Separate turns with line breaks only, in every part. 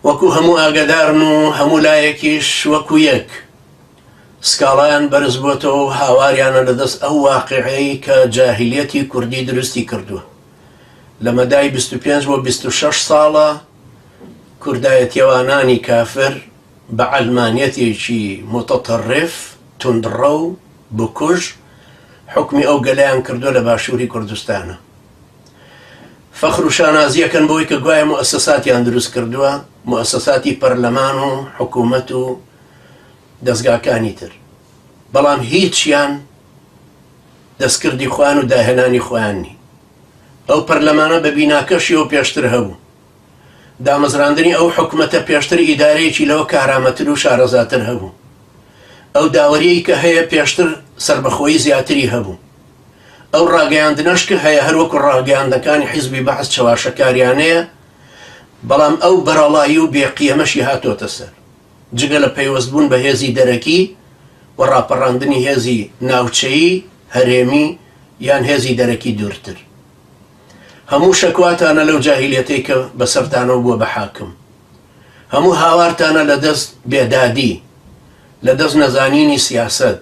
وەکو هەموو ئاگەدارن و هەموو لایەکیش وەکو یەک سکاڵایان بەرز بۆتەوە و هاواریانە لە دەست ئەو واقیعەی کە جاهیلیەتی کوردی دروستی کردووە لە مەدای بیست و پێنج بۆ بیست و شەش ساڵە کوردایەتیەوانانی کافر بە عەلمانیەتێکی موتەتەڕف توندڕەو بکوژ حوکمی ئەو گەلەیان کردووە لە باشوری کوردستانا. فەخر و شانازی ئەکەن بەوەی کە گوایە موئەسەساتیان دروست کردووە، موئەسەساتی پەرلەمان و حکوومەت و دەزگاکانی تر، بەڵام هیچیان دەستکردی خۆیان و داهێنانی خۆیان نین. ئەو پەرلەمانە بە بیناکەشیەوە پێشتر هەبوو. دامەزراندنی ئەو حکومەتە پێشتر ئیدارەیەکی لەوە کارامەتر و شارەزاتر هەبوو. ئەو داوەریەی کە هەیە پێشتر سەربەخۆیی زیاتری هەبوو. ئەو ڕاگەیاندنەش کە هەیە هەر وەکو ڕاگەیاندنەکانی حیزبی بەعس چەواشەکاریانەیە، بەڵام ئەو بەرەڵایی و بێ قیەمەشی هاتۆتە سەر. جگە لە پەیوەست بوون بە هێزی دەرەکی و ڕاپەڕاندنی هێزی ناوچەیی، هەرێمی یان هێزی دەرەکی دوورتر. هەموو شەکواتانە لەو جاهیلیەتەی کە بەسەرتانەوە بووە بە حاکم هەموو هاوارتانە لە دەست بێدادی لە دەست نەزانینی سیاسەت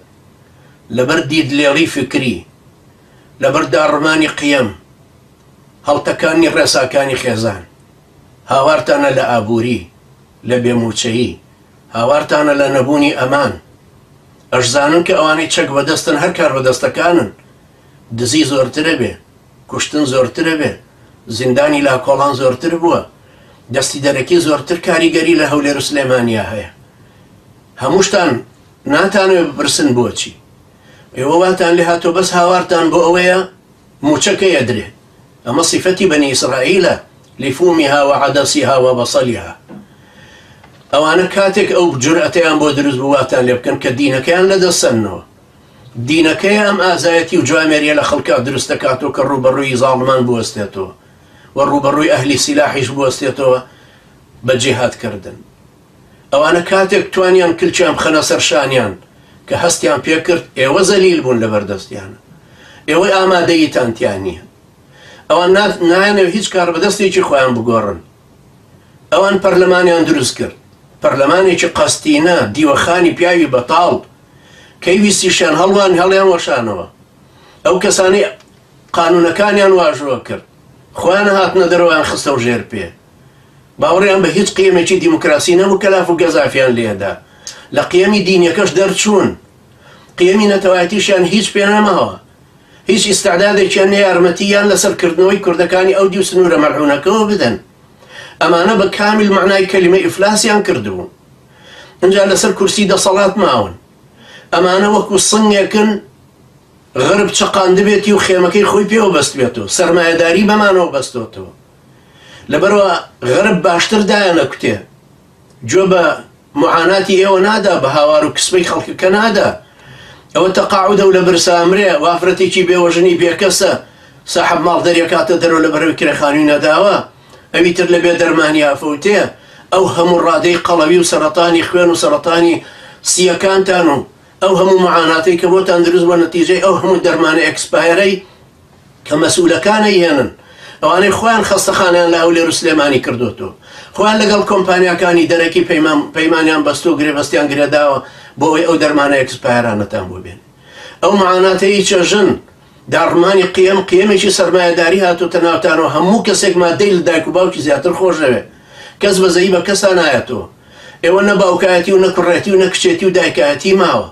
لەبەر دیدلێڵی فکری لەبەر داڕمانی قیەم هەڵتەکانی ڕێساکانی خێزان هاوارتانە لە ئابووری لە بێمووچەیی هاوارتانە لە نەبوونی ئەمان ئەشزانن کە ئەوانەی چەک بەدەستن هەر کاربەدەستەکانن دزی زۆرترە بێ کوشتن زۆرترە بێ زیندانی لاکۆڵان زۆرتر بووە دەستی دەرەکی زۆرتر کاریگەری لە هەولێر و سلێمانیا هەیە هەمووشتان ناتانوێ بپرسن بۆچی ئێوە واتان لێ هاتۆ بەس هاوارتان بۆ ئەوەیە موچەکە یەدرێ ئەمە صفەتی بەنی ئیسرائیلە لفومها وعدسها وبصلها ئەوانە کاتێک ئەو جورئەتەیان بۆ دروست بوواتان لێ بکەن کە دینەکەیان لەدەستسەنەوە دینەکەیە ئەم ئازایەتی و جوامێریە لە خەڵکا دروست دەکاتەوە کە ڕووبەڕووی زاڵمان بوەستێتەوە و ڕووبەڕووی ئەهلی سیلاحیش بوەستێتەوە بە جیهاد کردن ئەوانە کاتێک توانیان کلکیان بخەنە سەر شانیان کە هەستیان پێکرد ئێوە زەلیل بوون لە بەردەستیانە ئێوەی ئامادەیتان تیان نییە ئەوان نایانەوە هیچ کار بەدەستێکی خۆیان بگۆڕن ئەوان پەرلەمانیان دروست کرد پەرلەمانێکی قەستینە دیوەخانی پیاوی بەتاڵ کەی ویستیشیان هەڵوان هەڵیان وەشانەوە ئەو کەسانەی قانونەکانیان واژۆ کرد خۆیان هاتنە دەرەوەیان خستەو ژێر پێ باوەڕیان بە هیچ قیەمێکی دیموکراسی نەبوو کەلاف و گەزافیان لێدا لە قیەمی دینیەکەش دەرچوون قیەمی نەتەوایەتیشیان هیچ پێ نەماوە هیچ ئیستعدادێکیان نە یارمەتی یان لەسەر کردنەوەی کوردەکانی ئەو دیو سنوورە مەلعونەکەەوە بدەن ئەمانە بە کامیل مەعنای کەلیمە ئیفلاسیان کردبوو ئینجا لەسەر کورسی دەسەڵات ماون. ئەمانە وەکو سنگێکن غەرب چەقاندبێتی و خێمەکەی خۆی پێوە بەستبێتەوە، سەرمایەداری بەمانەوە بەستۆتەوە. لەبەروا غەرب باشتر دایانەکوتێ، گوێ بە معاناتی ئێوە نادا، بە هاوار و کسپەی خەڵکەکە نادا. ئەوە تەقاعودە و لە برسا ئەمرێ، ئەو ئافرەتێکی بێوەژنی بێکەسە، ساحەب ماڵ دەریەکاتە دەرەوە لەبەرەوەی کرێخانوی نەداوە. ئەوی تر لە بێ دەرمانی ئافەوتێ ئەو هەموو ڕادەی قەڵەوی و سەرەتانی خوێن و سەرەتانی سییەکانتان و ئەو هەموو مەعاناتەی کە بۆتان دروست بوە نەتیجەی ئەو هەموو دەرمانە ئێکسپایەرەی کە مەسئولەکان ئەیهێنن ئەوانەی خۆیان خەستەخانەیان لە هەولێر و سلێمانی کردۆتۆ خۆیان لەگەڵ کۆمپانیاکانی دەرەکی پەیمان پەیمانیان بەستۆ گرێبەستیان گرێداوە بۆ ئەوەی ئەو دەرمانە ئێکسپایەرانەتان بۆ بێنن ئەو مەعاناتەی چەژن داڕمانی قیەم، قیەمێکی سەرمایەداری هاتۆتە ناوتانەوە، هەموو کەسێک ماددەی لە دایک و باوکی زیاتر خۆش دەوێت، کەس بەزەیی بە کەسا نایەتەوە، ئێوە نە باوکایەتی و نە کوڕێتی و نە کچێتی و دایکایەتی ماوە،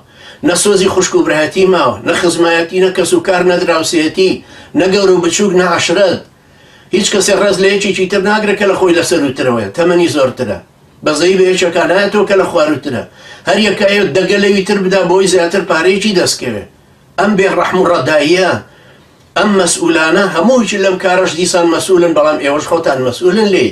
نە سۆزی خوشک و برایەتی ماوە، نە خزمایەتی، نە کەس و کار، نە دراوسێیەتی، نە گەورە و بچووک، نە عەشرەت، هیچ کەسێک ڕێز لە یەکێکی تر ناگرێت کە لە خۆی لە سەرووترەوەیە، تەمەنی زۆرترە، بەزەیی بە یەکێکا نایەتەوە کە لە خوارووترە، هەر یەکە ئەیەوێت دەگە لەوی تر بدا بۆی زیاتر پارەیەکی دەست کەوێت، ئەم بێ ڕەحم و ڕەداییە ئەم مەسئولانە هەمووی لەم کارەش دیسان مەسئولن بەڵام ئێوەش خۆتان مەسئولن لێی